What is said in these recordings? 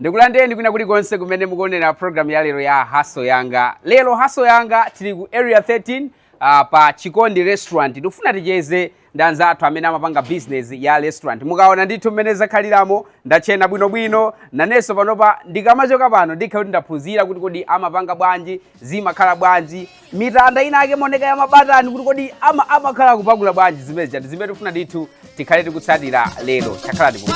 ndikulandireni kwina kulikonse kumene mukuonera programu ya lero ya haso yanga lero haso yanga tili ku area 13 uh, ah, pa chikondi restaurant tikufuna ticheze ndi anzathu amene amapanga business ya restaurant mukaona ndithu mmene zakhaliramo ndatchena bwinobwino nanenso panopa ndikamachoka pano ndikhala kuti ndaphunzira kuti kodi amapanga bwanji zimakhala bwanji mitanda inayake maonekedwe a mabatani kuti kodi ama amakhala akupakula bwanji zimene chati zimene tifuna ndithu tikhale tikutsatira lero chakhala ndi momwe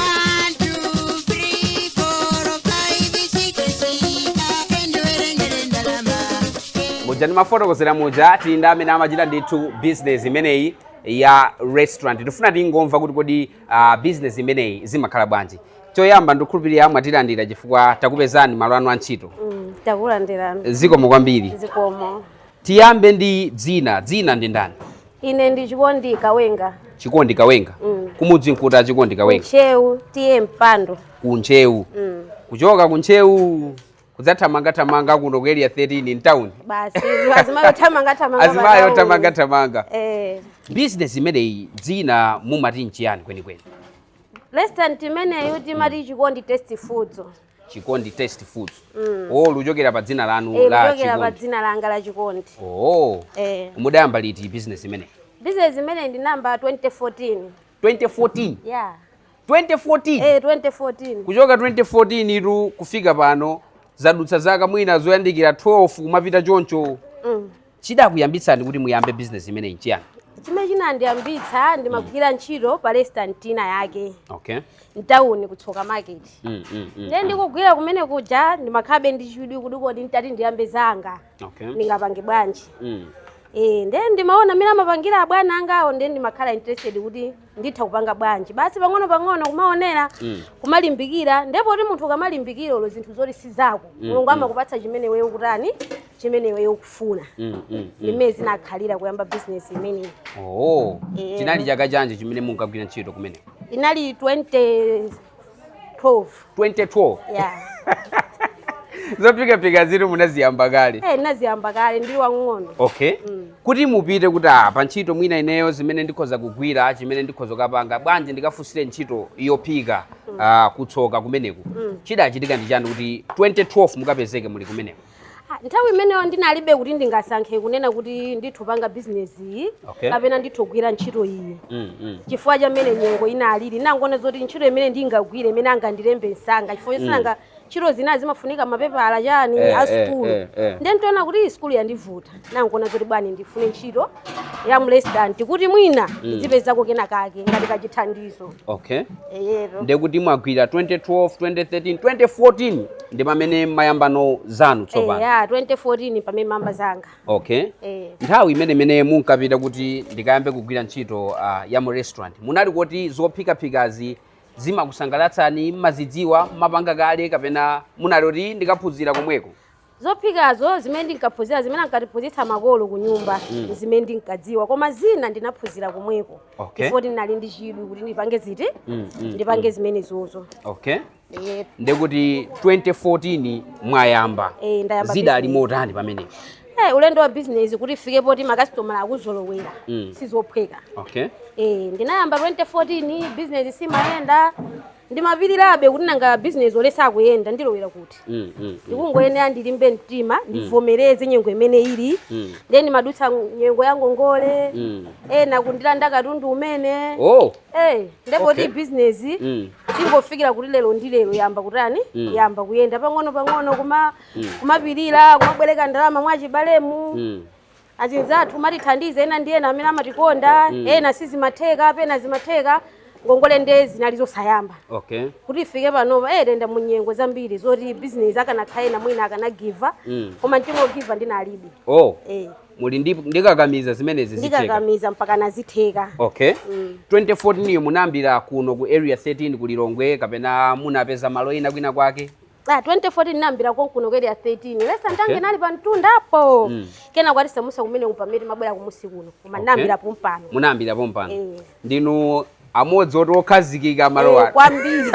muja ndimafotokozera muja tili ndi amene amachita ndithu business imeneyi ya restaurant tifuna tingomva kuti kodi uh, business imeneyi zimakhala bwanji choyamba ndikhulupirira mwatilandira chifukwa takupezani malo anu a ntchito Mm, takulandirani zikomo kwambiri zikomo tiyambe ndi dzina dzina ndi ndani ine ndi chikondi kawenga chikondi kawenga Mm. kumudzi n'kuti chikondi kawenga ntcheu T/A mpando ku ntcheu Mm, kuchoka ku ntcheu kudzathamangathamanga kuno ku area 13 in town basi azimayi othamangathamanga azimayi padawu. othamangathamanga Eh, business imeneyi dzina mumati nchiyani kwenikweni Restaurant imeneyo timati chikondi tasty foods. Chikondi Tasty Foods. Oh, kuchokera pa dzina lanu Eh, la kuchokera pa Chikondi. dzina langa la chikondi. Oh. Eh. Mudayamba liti business imeneyi? Business imeneyi ndinayamba 2014. 2014. Yeah. 2014. Eh, 2014. kuchoka 2014 itu kufika pano zadutsa zaka mwina zoyandikira 12 kumapita choncho Mm. Chidakuyambitsani kuti muyambe bizinesi imeneyi n'chiyani? Chimene chinandiyambitsa, ndimagwira ntchito pa restaurant ina yake Okay. mtauni ku Tsoka Market. Mm, mm, mm. Ndiye ndikugwira kumene kuja ndimakhalabe ndi chidwi kuti kodi nditati ndiyambe zanga Okay. ndingapange bwanji. Mm. Eh, ndiye ndimaona mmene amapangira abwana angawo ndiye ndimakhala interested kuti nditha kupanga bwanji basi pang'ono pang'ono kumaonera Mm. kumalimbikira ndiye poti munthu ukamalimbikira olo zinthu zoti si zako Mm, mulungu mm. amakupatsa chimene iweyo ukutani chimene iweyo ukufuna Mm, mm, mm. mmene zinakhalira kuyamba bizinesi imeneyi Oh, Eh. chinali chaka chanji chimene munkagwira ntchito kumeneko inali 20 12 2012 yeah zophikaphika izi munaziyamba kale eh ndinaziyamba kale ndili wang'ono okay kuti mupite kuti ah, pa ntchito mwina ineyo zimene ndikhoza kugwira chimene ndikhoza kupanga bwanji ndikafunsire ntchito yophika ah, kutsoka kumeneku chidachitika ndi chani kuti 2012 mukapezeke muli kumeneko Ah, nthawi imeneyo ndinalibe kuti ndingasankhe kunena kuti nditha kupanga bizinesi iyi Okay. kapena nditha kugwira ntchito iyi Mm, mm. chifukwa cha mmene nyengo inalili ndinangoona zoti ntchito imene ndingagwire imene angandilembe msanga chifukwa choti nanga ntchito zina zimafunika mapepala chani Eh, a eh, sukulu eh, eh. ndiye ndinaona kuti iyi sukulu yandivuta ndinakuona zoti bwani ndifune ntchito ya mu restaurant kuti mwina ndizipezako kena kake ngati kachithandizo okay ndekuti mwagwira 2012 2013 2014 ndi pamene mayambano zanu tsopano eya 2014 pamene ndinayamba zanga okay eh nthawi imene imene munkapita kuti ndikayambe kugwira ntchito uh, ya mu restaurant munali kuti zophikaphikazi zimakusangalatsani mmazidziwa mmapanga kale kapena munali kuti ndikaphunzira komweko Zophikazo zimene ndinkaphunzira zimene ankatiphunzitsa makolo kunyumba Mm. zimene ndinkadziwa koma zina ndinaphunzira komweko Okay. chifukwa ndinali ndi chidwi kuti ndipange ziti Mm, mm, ndipange zimenezozo okay Eh, ndekuti 2014 mwayamba Eh, ndayamba zidali motani pamenepo eh, ulendo wa bizinesi kuti ifike poti makasitomala akuzolowera Mm. sizophweka okay Eh, ndinayamba 2014 bizinesi simayenda ndimapirirabe kuti nanga bizinesi yo sikuyenda ndilowera kuti mm, mm, mm. ndikungoyenera ndilimbe mtima ndivomereze nyengo imene ili Mm. ndiye ndimadutsa nyengo ya ngongole Mm. ena kundilanda katundu umene oh Eh, ndipo Okay. kuti bizinesi mm. idzafikire kuti lero ndi lero yayamba kutani Mm. yayamba kuyenda pang'ono pang'ono kumapirira kumabwereka ndalama mwa achibalemu mm. Azinzathu amatithandiza ena ndi ena amene amatikonda mm. ena sizimatheka pena zimatheka ngongole nde zinali zosayamba okay. kuti ifike panopa eh, tayenda munyengo zambiri zoti business akanakhala ena mwina akanagiva mm. koma mtima ogiva ndinalibe oh. eh. mumati ndikakamira zimenezi ndikakamira mpaka zitatheka okay. mm. 2014 munayambira kuno ku area 13 ku Lilongwe kapena munapeza malo ena kwina kwake Ah, 2014 ndinayambira konkuno ku area 13 lesa ntange Okay. ndinali pa mtundapo Mm. kenako anatisamutsa kumene kupamete timabwera kumunsi kuno koma Okay. ndinayambira pompano munayambira pompano Eh. ndinu amodzi oti okhazikika Eh, malowa kwambiri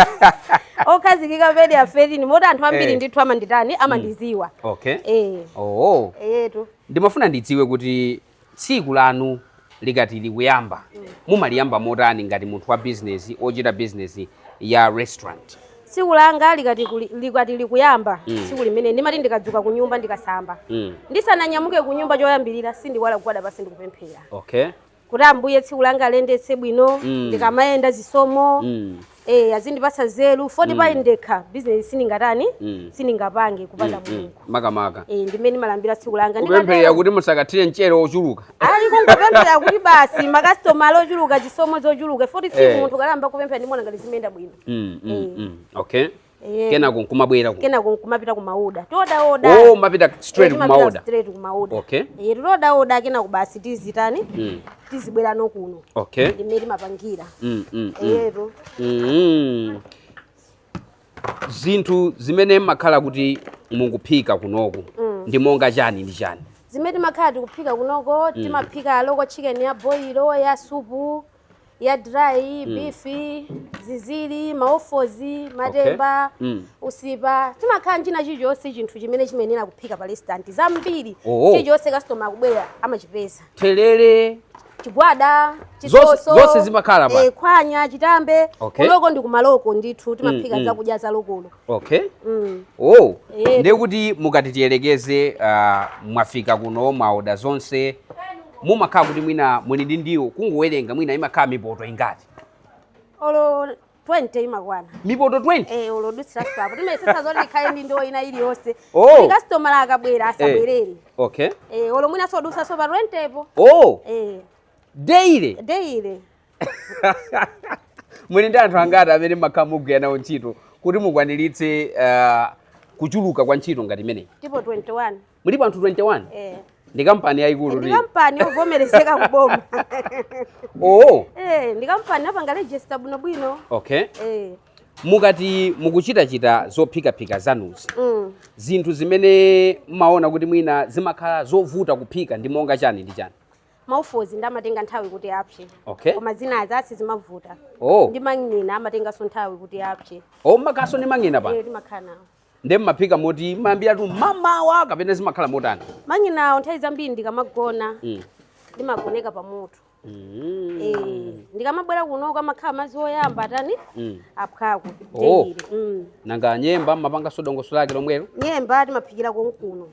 okhazikika pa area 13 moti anthu ambiri Eh. ndithu amanditani amandidziwa okay eh oh eyetu ndimafuna ndidziwe kuti Tsiku lanu likati likuyamba, mumaliyamba motani ngati munthu wa bizinesi ochita bizinesi ya restaurant? Tsiku langa likati likuyamba mm. tsiku limene ndimati ndikadzuka ku nyumba ndikasamba mm. ndisananyamuke ku nyumba choyambirira sindiiwala kugwada pansi ndikupemphera okay. kuti ambuye tsiku langa aliyendetse bwino mm. ndikamayenda chisomo mm. Eh, azindipatsa nzeru foti mm. ndekha bizinesi sindingatani mm. sindingapange kupanda mm, mm. mulungu mm. makamaka eh, ndimene ndimayambira tsiku langa kupemphera kuti musakathire mchere wochuluka ayi kungopemphera kuti basi makasitomala ochuluka chisomo chochuluka foti eh. munthu ukayamba kupemphera ndimaona ngati zimayenda bwino mm, mm, eh. mm. okay Eh. Kenako nkumabwera ku. Kenako nkumapita kumaoda. Tioda oda. Oh, mapita straight eh, kumaoda. Straight kumaoda. Okay. Eh, tioda oda kenako basi tizitani? Mm. Tizibwerano kuno. Okay. Ndimmene timapangira. Mm, mm, mm. Eh, to. Mm. Zinthu zimene makhala kuti mukuphika kunoko mm. ndi monga chani ndi chani? Zimene timakhala tikuphika kunoko mm. timaphika local chicken ya boilo ya supu. Mm. ya dry mm. beef zinziri ma offals matemba okay. mm. usipa timakhala nchina chilichonse chinthu chimene chimayenera kuphika pa restaurant zambiri oh, oh. chilichonse customer akabwera amachipeza therere chigwada chisoso zonse zimakhalapo eh, khwanya chitambe okay. kunoko ndi ku ma local ndithu timaphika mm, mm. zakudya za lokolo okay mm. oh yeah. ndiye kuti mukati tiyerekeze uh, mwafika kuno mwaoda zonse mumakhala kuti mwina muli ndi ndiwo kungowerengera mwina imakhala mipoto ingati olo 20 imakwana mipoto 20 eh olo kudutsira apo timayesesa zoti tikhale ndi ndiwo ina iliyonse oh. customer akabwera eh. asabwerere eh. okay eh olo mwina zodutsanso pa 20 po oh eh daily daily muli ndi anthu angati amene makhala mugwira nawo ntchito kuti mukwaniritse ah, kuchuluka kwa ntchito ngati imeneyi tipo 21 mulipo anthu 21 eh ndi kampani yayikulu ndiye ndi kampani yovomerezeka kuboma oo eh ndi kampani yopanga register bwino bwino okay eh mukati mukuchitachita zophikaphika zanuzi mm. zinthu zimene mmaona kuti mwina zimakhala zovuta kuphika ndi monga chani ndi chani ma offals ndi amatenga nthawi kuti apse okay koma zinazi sizimavuta oh ndi mang'ina amatenganso nthawi kuti apse oh mmakhalanso ndi mang'ina apa Eh, timakhala nawo nde mmaphika moti mayambiratu mamawa kapena zimakhala motani mang'inawo nthawi zambiri tikamagona Mm. timagoneka pa moto Mm. Eh, tikamabwera kunoko amakhala ayamba atani Mm. apsako Oh. teyire nanga nyemba mmapanganso dongosolo lake lomwelo nyemba timaphikira konkuno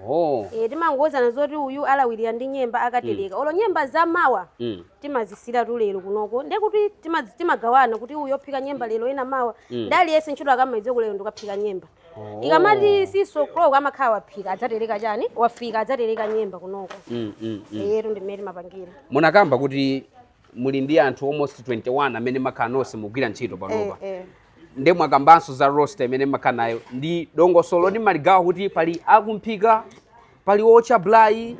Oh. Eh, timangouzana zoti uyu alawirira ndi nyemba akatereka olo nyemba za mawa Mm. timazisiyiratu lero kunoko nde kuti tima- timagawana kuti uyu ophika nyemba lero ena mawa Mm. nde aliyense ntchito amaidziwa kuti lero ndikaphika nyemba Oh. ikamati six o'clock amakhala waphika adzatereka chani wafika adzatereka nyemba kunoko Mm, mm, mm. eyetu ndimene timapangira munakamba kuti muli ndi anthu almost 21 amene makhala nonse mugwira ntchito panopa Eh, eh. nde mwakambanso za roster imene mmakhala nayo ndi dongosolo loti mumaligawa kuti pali akumphika pali ootcha braai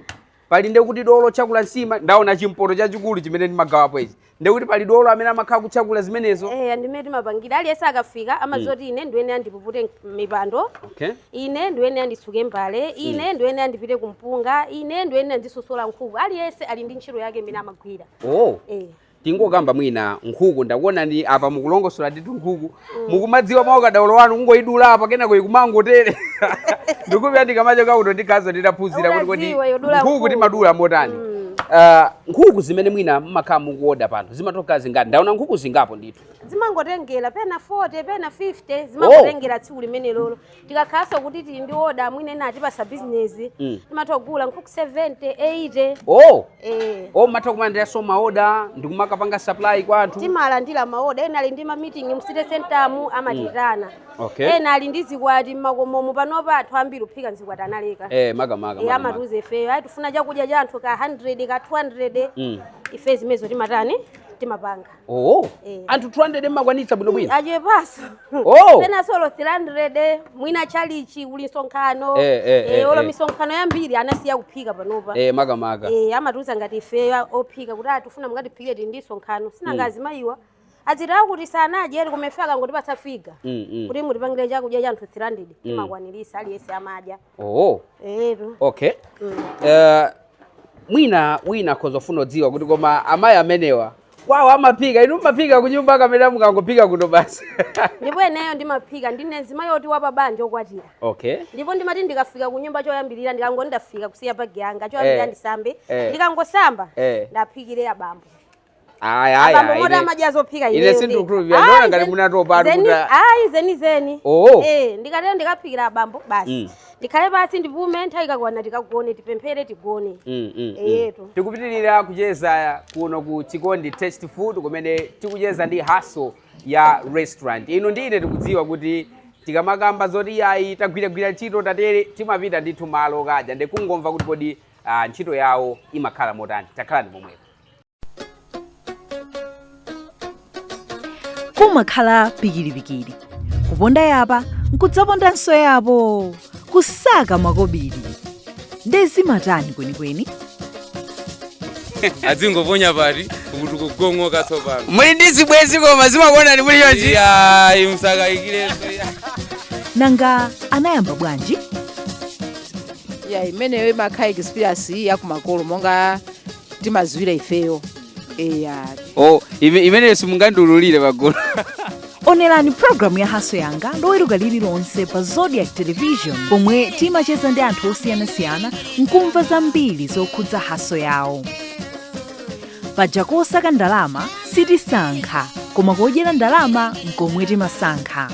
pali nde kuti dolo otakula nsima ndaona chimpoto chachikulu chimene mumagawapo ichi nde kuti pali dolo amene amakhala kutakula zimenezo Eh, ndi mmene timapangira aliyense akafika amadziwa kuti ine ndiyenera ndipupute mipando okay ine ndiyenera nditsuke mbale ine ndiyenera ndipite kumpunga ine ndiyenera ndisosole nkhuku aliyense ali ndi ntchito yake imene amagwira oh Eh. tingokamba mwina nkhuku ndakuonani apa mukulongosola ndithu nkhuku mukumadziwa mwa ukadaulo wanu kungoidula apa kenako ikumangotere ndikupita ndikamacha kakuto ndikhaza nditaphunzira kuti kodi nkhuku timadula motani Ah, nkhuku zimene mwina mmakhala mukuoda pano zimakhala zingati ndaona nkhuku zingapo ndithu zimangotengera pena 40 pena 50 zimangotengera tsiku limenelolo tikakhalanso kuti tili ndi oda mwina ena atipasa bizinesi Mm. timatha kugula nkhuku 70 80 oh eh. oh mmatha kumalandiranso maoda ndikumakapanga supply kwa anthu timalandira maoda ena ali ndi mamiting mu city center mu amatitana Okay. ena ali ndi zikwati mmakomomo panopa anthu ambiri kuphika mzikwati analeka eh, makamaka. amatiuza ifeyo ayi tifuna chakudya cha anthu ka 100 ka 200 Mm. ife zimenezo timatani timapanga oh Eh. anthu 200 mmakwanitsa bwinobwino achepaso Oh. penanso olo 300 mwina chalichi kuli msonkhano Eh, eh, eh, olo eh. misonkhano yambiri anasiya kuphika panopa makamaka Eh, amatiuza ngati ifeyo ophika kuti aa tifuna mungatiphikire tili ndi msonkhano sinanga azimayiwa azithawa kuti sanadye ali kumefe akangotipasa figa Mm, mm. kuti mutipangire chakudya cha anthu 300 timakwaniritsa aliyense amadya Oh, Eyetu. okay. Mm. Eh, mwina wina akhoza kufuna kudziwa kuti koma amayi amenewa kwawo amaphika inu mumaphika kunyumba kapena mukangophika kuno basi Ndipo ineyo ndimaphika ndine mzimayi woti wapabanja okwatira. okay Ndipo ndimati ndikafika ku nyumba choyambirira ndikangoti ndafika kusiya bagi yanga choyambirira Eh. ndisambe. Eh. Ndikangosamba Eh. ndiaphikire abambo. Ayi ayi Abambo ayi. moti ine- amadya zophika Ine iweyo ndi. sindikukhulupirira. Ayi, Ndaona ngati zeni- munatopa ali zeni- kuti. Ayi zeni zeni. Oh. Eh, ndikatero ndikaphikira abambo Mm. basi. Ndikhale basi ndipume nthawi ikakwana tikagone tipemphere tigone. Mm, mm, mm. Eyetu. tikupitirira kucheza kuno ku chikondi fast food kumene tikucheza ndi haso ya restaurant ino ndiye tikudziwa kuti tikamakamba zoti yayi tagwiragwira ntchito tatere timapita ndithu m'malo kukadya ndikungomva kuti kodi ah, ntchito yawo imakhala motani takhalani pomwepo kumakhala pikiripikiri kuponda apa nkudzapondanso apo kusaka makobiri nde zimatani kwenikweni adzingoponya pati kuti kugongoka tsopano muli ndi zibwenzi koma zimakuonani muli chonchi iya musakayikirenso nanga anayamba bwanji eya imeneyo imakhala experience yakumakolo monga timaziwira ifeyo eya oh ime- imeneyo simungandiululire pagulu onerani pulogalamu ya haso yanga loweruka lililonse pa zodiac television pomwe timacheza ndi anthu osiyanasiyana nkumva zambiri zokhudza haso yawo paja posaka ndalama sitisankha koma kodyera ndalama nkomwe timasankha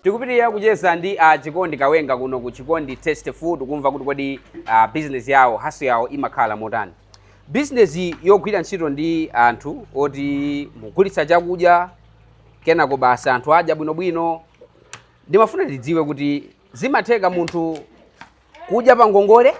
tikupitirira kucheza ndi a chikondi kawenga kuno ku chikondi taste food kumva kuti kodi uh, business yawo haso yawo imakhala motani business yogwira ntchito ndi anthu oti mugulitsa chakudya kenako basi anthu adya bwinobwino ndimafuna tidziwe kuti zimatheka munthu kudya pa ngongole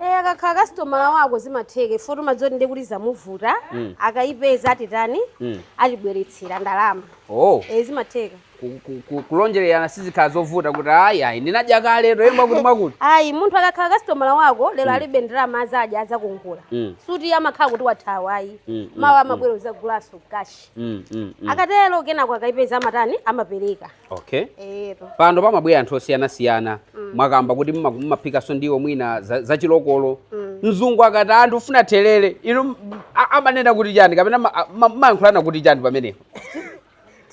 Eh, akakhala kasitomala wako zimatheka ife timadziwa zoti ndi kuti zamuvuta Mm. akayipeza atani Mm. atibweretsera ndalama oh eh, zimatheka ku- ku- ku- kulonjererana sizikhala zovuta kuti ayi ayi ndinadya kale to ee mwakuti mwakuti ayi munthu akakhala kasitomala wako lero alibe ndalama azadya azakongola Mm. sikuti amakhala kuti wathawa ayi Mm, mm, mawa amabwera azagulanso kashi Mm, mm, mm. akatero kenako akayipeza amatani amapereka okay eyetu pano pamabwera anthu osiyanasiyana mwakamba kuti mma- mmaphikanso ndiwo mwina za- zachilokolo mzungu akati anti ndikufuna thelere inu m- a- amanena kuti chani kapena ma- a- ma- mmayankhulana kuti chani pamenepo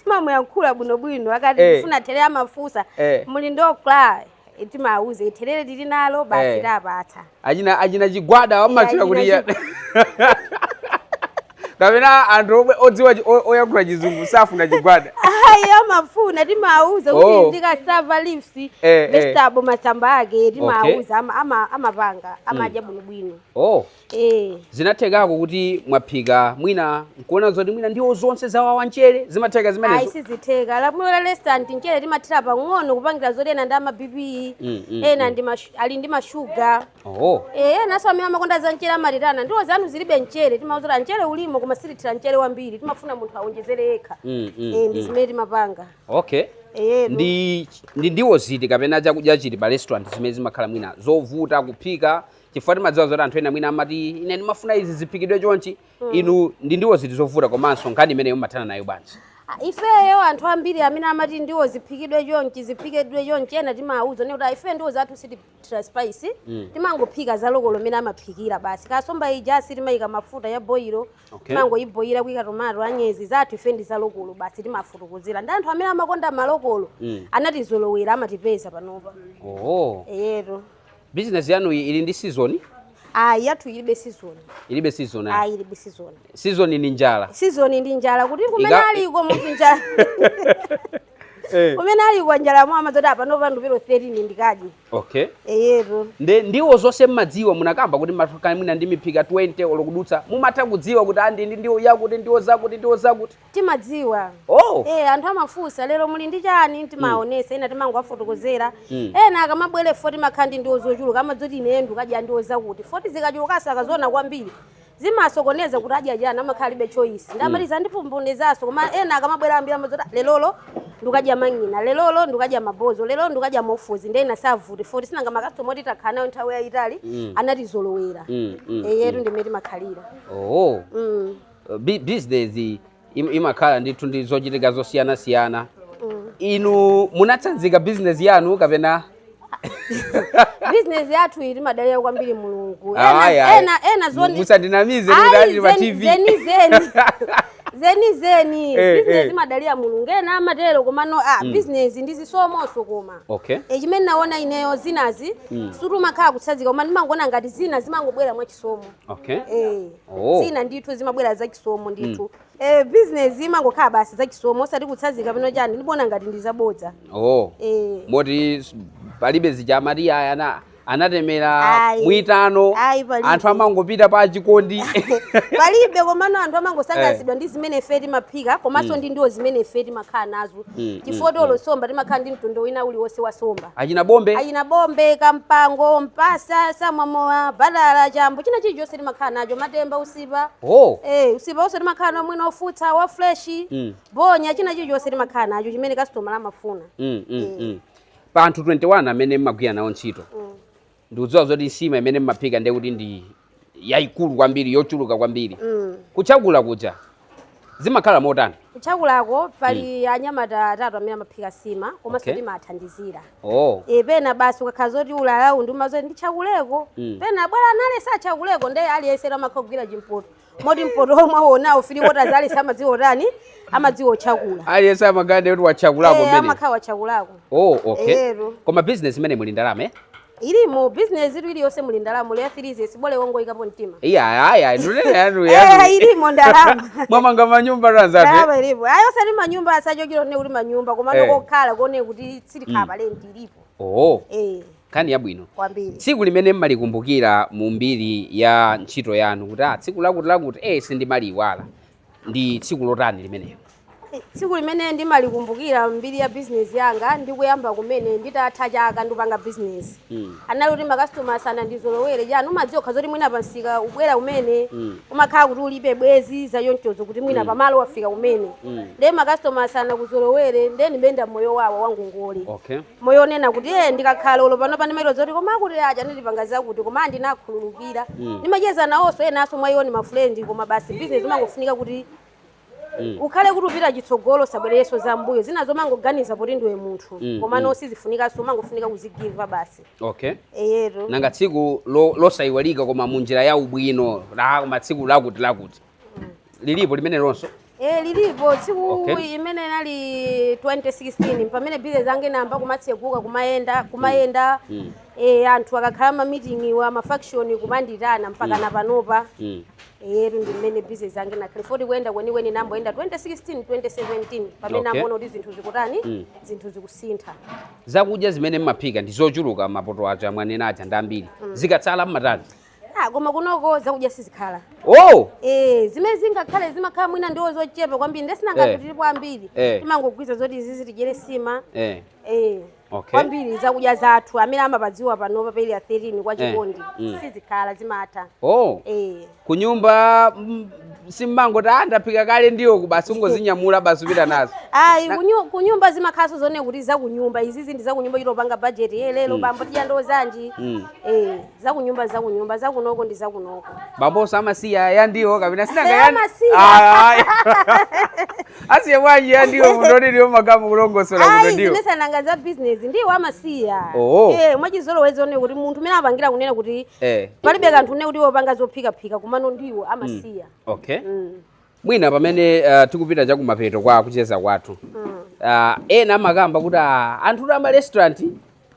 timamuyankhula bwinobwino akati Eh. akufuna thelere amafunsa Eh. muli ndi okra Eh, timawuza thelere tili nalo basi Eh. tawapatsa achina achina chigwada amatchula kuti iya kapena anthu omwe odziwa chi- o- oyankhula chizungu safuna chigwada ayi amafuna timawuza kuti Oh. ndi cassava leaves Eh, eh. vegetable masamba ake timawuza ama- ama- amapanga amadya bwinobwino oh ee. zinathekako kuti mwaphika mwina nkuona zoti mwina ndiwo zonse zawawa mchere zimatheka ayi zimenezo sizitheka lamulo la restaurant mchere timathira pang'ono kupangira zoti ena ndi ama bp Mm, mm, ena ndi mashu- ali ndi mashuga oh. Eh, enanso amene amakonda za mchere amati anti ndiwo zanu zilibe mchere timawauza mchere ulimo koma sitithira mchere wambiri timafuna munthu awonjezere yekha Mm, mm, Eh, ndi mm. zimene timapanga okay Eh, no. ndi ndi ndiwo ziti kapena chakudya chiti pa restaurant zimene zimakhala mwina zovuta kuphika chifukwa timadziwa zoti anthu ena mwina amati ine ndimafuna izi ziphikidwe chonchi mm. inu ndi ndiwo ziti zovuta komanso nkhani imeneyo mumathana nayo bwanji ifeyo anthu ambiri amene amati ndiwo ziphikidwe chonchi ziphikidwe chonchi ena timawuza nde kuti ife ndiwo zathu sitithira spice mm. timangophika za lokolo mmene amaphikira basi kansomba ija sitimayika mafuta ya boyiro okay. timangoyiboyira kuyika tomato anyezi zathu ife ndi za lokolo basi timatakasira nde anthu amene amakonda malokolo mm. anatizolowera amatipeza panopa oh. eyetu Business yanuyi ili ndi season? Ayi, yathu ilibe season. Ilibe season ayi. Ayi, ilibe season. Season ni njala. Season ndi njala kuti kumene Ika- aliko munthu njala. Eh. Kumene aliko njala yamuwawa amadziwa kuti apano pa ndowe apo pa 13 ndikadye. Okay. Eyetu. Nde ndiwo zonse mmadziwa munakamba kuti mmakhala mwina ndi miphika 20 olokudutsa mumatha kudziwa kuti ai iyi ndi ndiwo yakuti ndiwo zakuti ndiwo zakuti. timadziwa Oh. eh, anthu amafunsa lero muli ndi chani timaonesa ena timangowafotokozera Mm. ena akamabwera poti timakhala ndi ndiwo zochuluka amadzati ine ndikadya ndiwo zakuti poti zikachulukanso akaziona kwambiri zimasokoneza kuti adya chani amakhala alibe choice ndamaliza ndipumbunezaso koma ena akamabwera ambiri amadzati "Ah, lerolo ndikadya mang'ina lerolo ndikadya mabonzo lerolo ndikadya mofuzi ndiye ena savuta poti sinanga makasitoma oti takhala nawo nthawi yayitali Mm. anatizolowera Mm, mm, eyetu ndi mmene timakhalira oh. mm. Uh, bi- business im- imakhala ndithu ndi zochitika zosiyanasiyana Mm. inu munatsirika business yanu kapena business yathuyi timadalira kwambiri mulungu Ah, ena, ayi, ayi. ena, ena zoona musandinamize Ayi, ndinati pa zeni- tv zeni zeni zeni zeni Eh, business eh. imadalira mulungu ena amatero komano ah, business ndi chisomonso koma okay e chimene naona ineyo zinazi Mm. sikuti umakhala kutsirika koma ndimangoona ngati zina zimangobwera mwachisomo Okay. Eh. Oh. Zina ndithu zimabwera za chisomo ndithu. Mm. Eh, business imangokhala basi za chisomo osati kutsirika pena chani ndikuona ngati ndi zabodza. Oh. Eh. Moti palibe zija amati ayi anatemera mwitano anthu amangopita pa chikondi palibe komano anthu amangosangalatsidwa eh. ndi zimene ife timaphika komanso mm. ndi ndiwo zimene ife timakhala nazo mm, mm, chifukwa olo mm. somba timakhala ndi mtundu wina uliwonse wa somba achina bombe achina bombe kampango mpasa samwamowa batala chambo china chilichonse timakhala nacho matemba usipa oh. eh, usipa onse timakhala naye mwina wofutsa wa fresh mm. bonya china chilichonse timakhala nacho chimene kasitoma amafuna mm, mm, eh. mm. pa anthu 21 amene mmagwira nawo ntchito mm. ndikudziwa zoti nsima imene mmaphika ndiye kuti ndi yaikulu kwambiri yochuluka kwambiri Mm. kuchakula kuja zimakhala motani kuchakulako pali anyamata atatu amene amaphika nsima komanso Okay. timathandizira oh. e pena basi ukakhala zoti ulalawu umadzati ndichakuleko Mm. pena bwera nale sachakuleko nde aliyense amatha kugwira chimpoto moti mpoto mukuwonawo si kuti azalesi amadziwa kutani amadziwa kuchakula aliyense amagade kuti wachakulako Eh, mene amakhala wachakulako oh okay Ero. koma business imeneyi muli ndalama eh? ilimo bizinesitu iliyonse muli ndalama leya filize bola ungoyikapo mtima iya aya ndikunena yanu Eh, yanu ilimo ndalama mwamanga manyumba tanzania ndalama ilipo ayi osati manyumba asachokera one kuti manyumba koma Eh. kokhala koona kuti sitikhala pa lendi ilipo oh Eh. Nkhani yabwino kwambiri. Tsiku limene mmalikumbukira mu mbiri ya ntchito yanu kuti ah, tsiku lakuti lakuti eh, sindimaliyiwala ndi tsiku lotani limenelo? Tsiku limene ndimalikumbukira mbiri ya bizinesi yanga ndi kuyamba kumene nditatha chaka ndikupanga bizinesi Mm. anali kuti makasitomala sanandizolowere chani mumadziwa nokha zoti mwina pamsika ukubwera kumene Mm. umakhala kuti ulibe bwenzi zachonchozo kuti mwina pamalo wafika kumene Mm. ndiye makasitomala sanakuzolowere ndiye ndimayenda moyo wa wangongole Okay. moyo onena kuti e ndikakhale olo panopa ndimaiwona kuti koma awa aja adandipanga zakuti koma ndinakhululukira mm. ndimacheza nawonso enanso mwa iwo ni mafriend koma basi business imangofunika kuti mm. ukhale kuti ukupita chitsogolo osabwereranso za mbuyo zina zomangoganiza poti ndiwe munthu mm, koma mm. no sizifunikanso umangofunika kuzigiva basi okay eyetu nanga tsiku lo- losaiwalika koma munjira yaubwino koma tsiku lakuti lakuti lilipo limenelonso Eh, lilipo tsiku Okay. imene inali 2016 pamene business yanga inayamba kumatseguka kumayenda kumayenda Mm. eh, anthu akakhala ma meeting awo ma function kumanditana mpaka na panopa Mm. yetu ndi mmene business yanga inayamba kuti kuyenda kwenikweni inayamba kuyenda 2016 2017 pamene Okay. ndimaona kuti zinthu zikutani Mm. zinthu zikusintha zakudya zimene mumaphika ndi zochuluka mapoto aja mwanena aja ndi ambiri zikatsala mumatani Ah, koma kunoko zakudya sizitsala oh eh zimene zingatsale zimakhala mwina ndiwo zochepa kwambiri nde sinanga Eh. tilipo ambiri Eh. timangogwirizana zoti izizi tidyere nsima eh eh Okay. kwambiri zakudya zathu amene amapadziwa panopa pa area 13 kwa chikondi Mm. sizitsala zimatha oh eh kunyumba mm, simumangoti ah ndaphika kale ndiwo basi kungozinyamula basi kupita nazo ayi kunyu- kunyumba zimakhalanso zonena kuti zakunyumba izizi ndi zakunyumba timapanga bajeti ye lero bambo tidya ndiwo zanji Mm. eh zakunyumba zakunyumba zakunoko ndi zakunoko bambonso amasiya yandiwo kapena si asiye bwanji yandiwo munthu woti ndiwo mungamakulongosola kuno ndiwo zija sinanga za business ndiwo amasiya oh. eh mwachizolowezi zonena kuti munthu mmene amapangira kunena kuti eh. palibe kanthu nde kuti wopanga zophikaphika komano ndiwo amasiya mm. okay mm. mwina pamene uh, tikupita chakumapeto kwa kucheza kwathu uh, ena amakamba kuti uh, anthu ama restaurant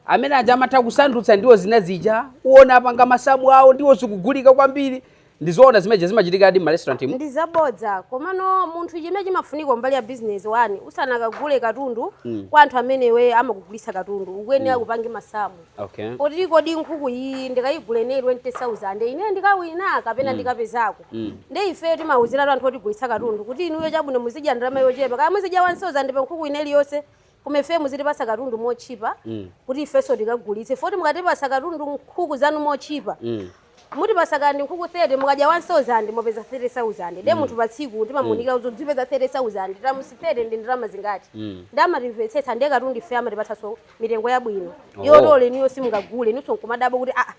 amene aja amatha kusandutsa ndiwo zina zija kuona apanga masamu awo ndiwo zigulike kwambiri ndizoona zimenezi zimachitikadi m'ma restaurant mu ndi zabodza komano munthu chimene chimafunika mbali ya business one usanakagule katundu mm. kwa anthu amenewo amakugulitsa katundu ukuyenera mm. upange masamu Okay. kuti kodi nkhuku iyi ndikayigula ineyo 20000 ineyo ndikawina kapena ndikapezako Mm. nde ifeyo timauziratu anthu otigulitsa katundu kuti inuyo chabwino muzidya ndalama yochepa kaya muzidya 1000 pa nkhuku ina iliyonse koma ifeyo muzitipatsa katundu motchipa Mm. kuti ifenso tikagulitse poti mukatipatsa katundu nkhuku zanu motchipa Mm. Mutipatsa kaya ndi nkhuku 30 mukadya 1000 mwapeza 30000 nde munthu patsiku timamuunikira kuti uzipeza 30000 times 30 ndi ndalama zingati nde amatimvetsetsa nde katundu ifeyo amatipatsanso mitengo yabwino Oh. yoti olo inuyo simungagule inunso nkumadabwa kuti aa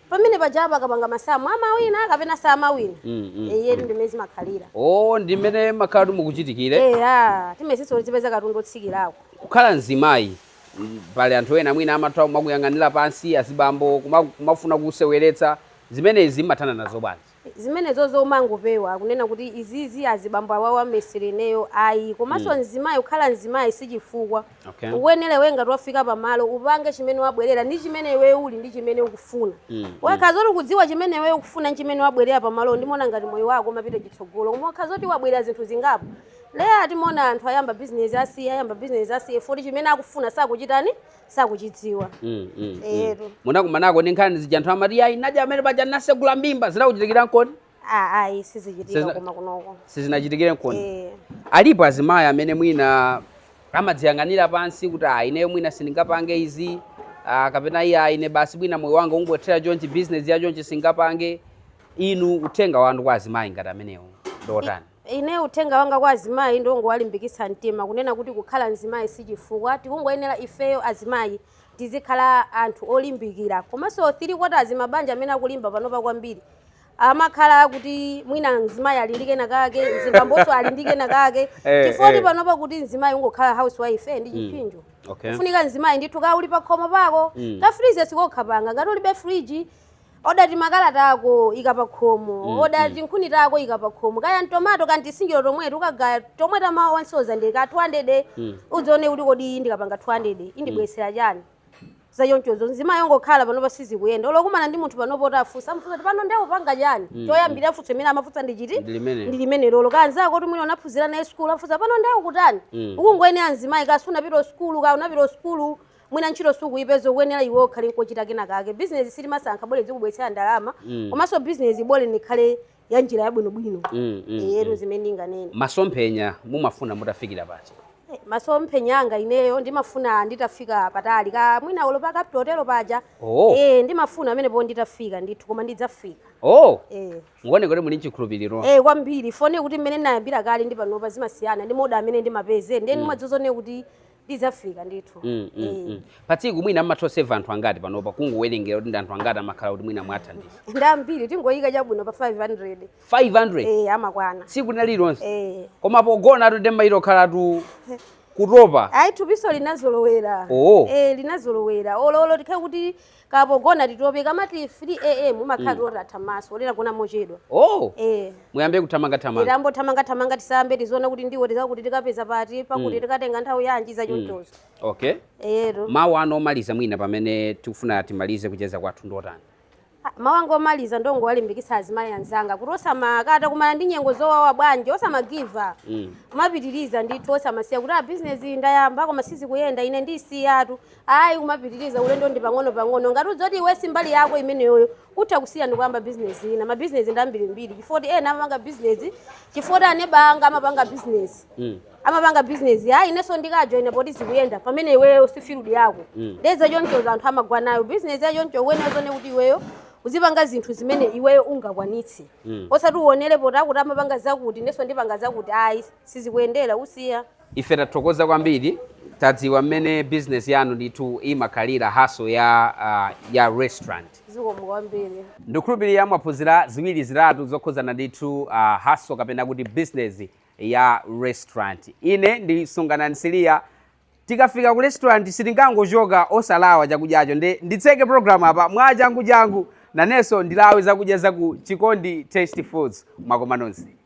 pamene ajawa akapanga masamu amawina kapena samawina Mm, mm, eyetu ndimene zimakhalira o ndi mmene makhala zimachitikira eya timayesetsa tizipeza katundu wotsikirako kukhala mzimayi Pali anthu ena mwina amatha kumakuyang'anila pansi azibambo kumafuna kukuseweletsa zimenezi mmathana nazo bwanji? Zimenezozo umangopewa kunena kuti izizi azibambo awawa asewere ineyo ayi komanso mzimayi kukhala mzimayi sichifukwa Okay. ukuyenera iweyo ngati wafika pamalo upange chimene wabwerera ndi chimene iweyo uli ndi chimene ukufuna ukakhala zoti ukudziwa chimene iweyo ukufuna ndi chimene wabwerera pamalowo ndimaona ngati moyo wako umapita chitsogolo koma ukakhala zoti wabwerera zinthu zingapo Nde timaona anthu ayamba business asiya ayamba business asiya ifoti chimene akufuna sakuchitani sakuchidziwa Mm, mm, mm. eyetu munakumanako ndi nkhani zija anthu amati ayi naja amene paja nasegula mbimba zinakuchitikira nkoni Ah, ayi sizichitika Sizina- koma kunoko sizinachitikire nkoni Eh, alipo azimayi amene mwina amadziyang'anira pansi kuti ah, ineyo mwina sindingapange izi ah, kapena iyayi ah, ine basi mwina moyo wanga ungothera chonchi business ya chonchi singapange inu uthenga wanu kwa azimayi ngati amenewo ndotani Ine uthenga wanga kwa azimayi ndiwongowalimbitsa mtima kunena kuti kukhala mzimayi sichifukwa, tikungoyenera ifeyo azimayi tizikhala anthu olimbikira komanso three quarters mabanja amene akulimba panopa kwambiri amakhala akuti mwina mzimayi ali ndi kena kake mzibambonso ali ndi kena kake eh, chifukwa kuti eh. panopa kuti mzimayi ungokhala housewife eh, ndi mm. chiphinjo mm. okay. kufunika mzimayi ndithu kawuli pakhomo pako mm. kafrize sikokha panga ngati ulibe friji oda timakala tako ika pa khomo Mm, oda mm. tinkhuni tako ika pa khomo kaya ntomato kantisinjiro tomwetu ukagaya tomwe tamawa wasonkha ndi ka 200 Mm. udzione kuti kodi iyi ndikapanga 200 indibwesera chani zachonchozo nzima yongokhala panopa sizikuyenda olo kukumana ndi munthu panopo kuti afunsa amufunsa kuti pano nde ukupanga chani Mm, choyambira afunso imene amafunsa ndi chiti Ndi limene. ndi limene lolo kanzako kuti mwina unaphunzira naye sukulu afunsa pano nde ukutani Mm. ukungoyenera nzimayi kaya sunapite sukulu kaya unapita sukulu mwina ntchito sukuipeza ukuyenera iwe ukhale nkochita kena kake bizinesi sitimasankha bola zikubweretsera ndalama Mm. komanso bizinesi bola ikhale ya njira yabwinobwino Mm, mm, eyetu mm. zimene ndinganene masomphenya mumafuna mutafikira pati Eh, masomphenya anga ineyo ndimafuna nditafika patali ka mwina olo pa Capital Hotel paja Oh. eh ndimafuna amenepo nditafika ndithu koma ndidzafika oh eh ndaona kuti muli nchikhulupiriro Eh kwambiri ifoti mmene ndinayambira kale ndi panopa zimasiyana ndi maoda amene ndimapeza ndiye ndimadzaona kuti ndidzafika ndithu Mm, mm, Eh. mm. pa tsiku mwina mmatha kuseva anthu angati panopa kungowerengera kuti ndi anthu angati amakhala kuti mwina mwathandiza ndi ambiri tingoyika chabwino pa 500 500 eh, amakwana tsiku lina lilonse eh. koma pogonatu nde mmachita kukhalatu kutopa ayi thupiso linazolowera Oo. eh, linazolowera ololo tikhale kuti kaya pogona titopa kumati 3 am umakhala ti oti atha maso oti tagona mochedwa oh eh muyambe kuthamanga thamanga tiyambe thamanga thamanga tiyambe tiziona kuti ndiwo titakuti tikapeza pati pakuti tikatenga nthawi yanji za chonchozo okay eya mawu anu omaliza mwina pamene tikufuna timalize kucheza kwathu ndi otani mawu anga omaliza ndingowalimbikitsa azimayi anzanga kuti kaya akumana ndi nyengo zowawa bwanji osamagiva up kumapitiriza ndithu osamasiya kuti a bizinesi ndayamba koma sizikuyenda ine ndisiyatu ayi kumapitiriza ulendo ndi pang'onopang'ono ngati udziwa kuti iwe si mbali yako imeneyoyo utha kusiya ndikuyamba bizinesi ina mabizinesi ndi ambirimbiri chifukwa kuti ena amapanga bizinesi chifukwa kuti aneba anga amapanga bizinesi Mm. amapanga bizinesi ayi inenso ndikajoyina poti zikuyenda pamene iweyo si field yako Mm. nde za chonchozo anthu amagwa nayo bizinesi ya choncho uyenera uzione kuti iweyo uzipanga zinthu zimene iweyo ungakwanitse Mm. osati uonere poti akuti amapanga zakuti inenso ndipanga zakuti ayi sizikuyendera usiya Ife tathokoza kwambiri tadziwa mmene business yanu ndithu imakhalira hustle ya uh, ya restaurant zikomo kwambiri ndikukhulupirira mwaphunzira ziwiri zitatu zokhuzana ndithu uh, hustle kapena kuti business ya restaurant ine ndi Sunganani Siliya tikafika ku restaurant sitingangochoka osalawa chakudyacho nde nditseke program apa mwa changu changu nanenso ndilawe zakudya zaku Chikondi Tasty Foods mwakoma nonse